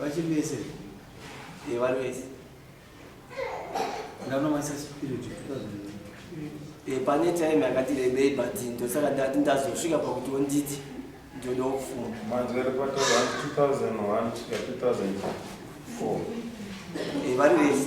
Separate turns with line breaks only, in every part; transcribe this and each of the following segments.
vachembese
vari
vese
ndanowanisa spirit pane
time yakati rebei but ndosaka ndati ndazosvika pakuti onditi ndoda kufunda manje vari pa 2001 2004
vari
vese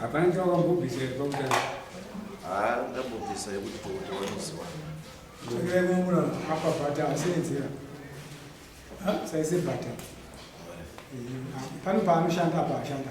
hapana
chawakambobvisa iri pakutanga haa
ndambobvisa yekuti tokuti wanoziwa takaimamura
apa bhata asenzera saise bhata pano paanoshanda apa ashanda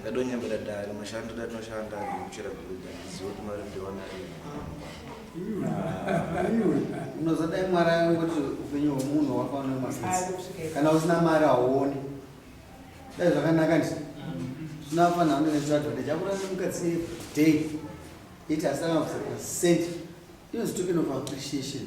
ndadonyambira dare mashando datinoshanda ndikuchera gurudza ndiziva kuti mari ndiwana
unozodai mwari ayo kuti upenyu hwemunhu hwakaona masisi kana usina mari hauoni dai zvakanaka ndi zvinoafanira ndinezviradhonde chakurana mukadzi day iti asina kusakuta sent inozitokenofa appreciation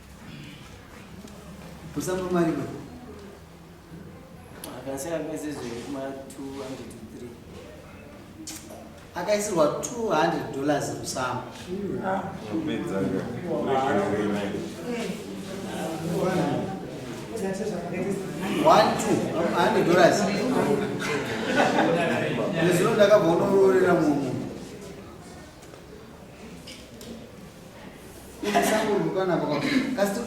Kusamba mari baba.
Akasema mwezi zvinhu kuma 200
akaisirwa 200 dollars musamba nezvino ndakabva unororera munhu Musangorumbukana pakati. Kasi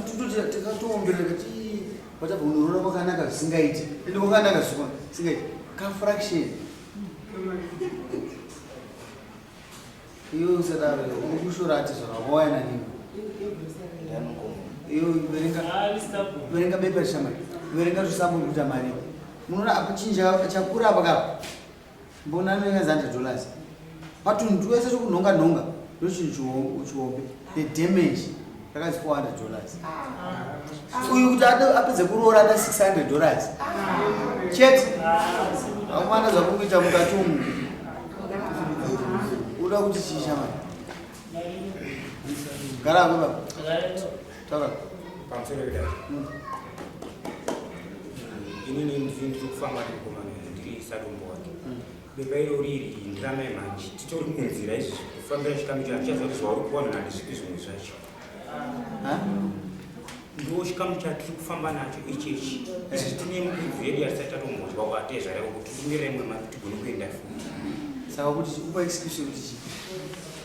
tikatombera kuti whatever unorora kwakanaka zvisingaiti. Ende kwakanaka zvisingaiti. Ka fraction. Iyo usadaro ukushora ati zvakawaya nanini. Iyo verenga verenga bepa shamari. Verenga zvisambo kuita mari. Munoona akuchinja chakura pakapa. mbona anonyanya zande dollars patunhu twese twekunhonga nhonga ndochinhu chihombe the damage rakazi 400 dollars uyu kuti apedze kuroora na 600 dollars chete akumana zvakukuita mukati umu uda kuti chii shamai gara kuba Tara pamusoro
pedai. Mm. Ini ni ndiri ndiri kufamba ndiri kukomana ndiri sadombo wake. Mm. Beba iro riri ndirame manje. Titori kunzira izvi kufambira chikamu chacho chazo kuti zvauri kuona nani zvipi zvimwe zvacho. Ha? Ndiwo chikamu chatiri kufamba nacho ichi ichi. Eh. Izvi tine mukudzi yedu yasati tatombozwa kwatezvara kuti tingere imwe mati tigone kuenda futi. Saka kuti
upa excuse kuti chii?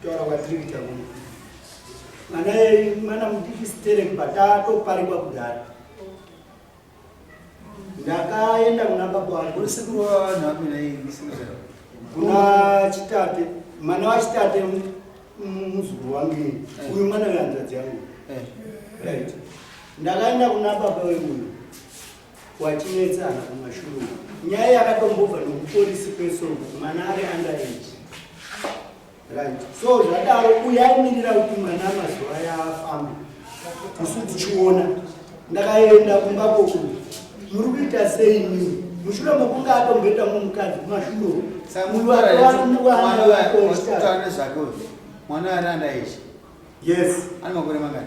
kutaura kwatiri kuita kuno mwana mwana mudiki sterek patatoparikwa kudhara ndakaenda kuna baba wangu sekuru wavanhu
vakuina kuna
chitate mwana wachitate muzukuru wangu ini eh. uyu mwana wehanzvadzi yangu eh. right ndakaenda kuna baba wemuno watinetsana kumashuru nyaya yakatombobva nokupolisi kwesongo mwana ari under age right so zvadaro uyaimirira kuti mwana mazuva aya afamba isu tichiona ndakaenda kumba koku muri kuita sei mii mushure mokunge atomboita mumukadzi kumashuro samuaanezvake
mwana ari under age yes
ane makore mangani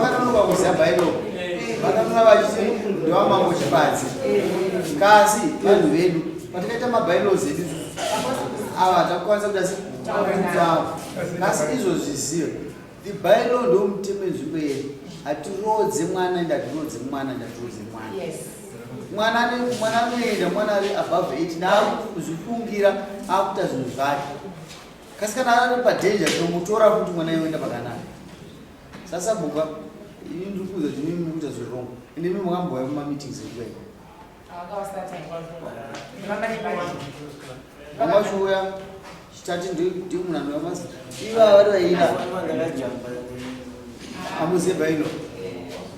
vakatonoka kuziva bhaibheri vakatona vachiti ndevamambo chipadzi kasi vanhu vedu patikaita mabhaibheri edu ava takukwanisa kuda sekudzavo kasi izvozvi ziyo ibhaibheri ndomutemo enzvimbo yedu hatirodze mwana ende hatirodze mwana ende hatirodze mwana mwana mwana anoenda mwana ari above 8 naakuzvifungira akuita zvinhu zvake kasi kana ari padanger tinomutora kuti mwana yoenda pakanaka sasa buka ini ndiri kuuza kuti mimi mukuita zviri wrong ende mimi makambouya mumameetings ekuya vamwachiuya chitati ndimunhu anouya masa iva vari vaina amuziva ino eh.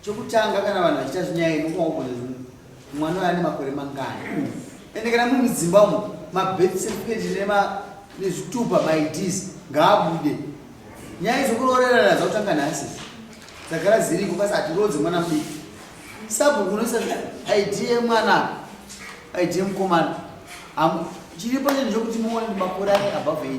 Chokutanga kana vanhu vachita zvinyaya ino kumaugone zvino mwana uyo ane makore mangani ende kana muri mudzimba umo mabirth certificate nema nezvitupa maids ngaabude nyaya izokuroorerana dzakutanga nhasi dzagara dziriko kasi hatiroodze mwana mudiki sabhuku unoisa id yemwana id yemukomana chiripo chinhu chokuti muone makore ane above 18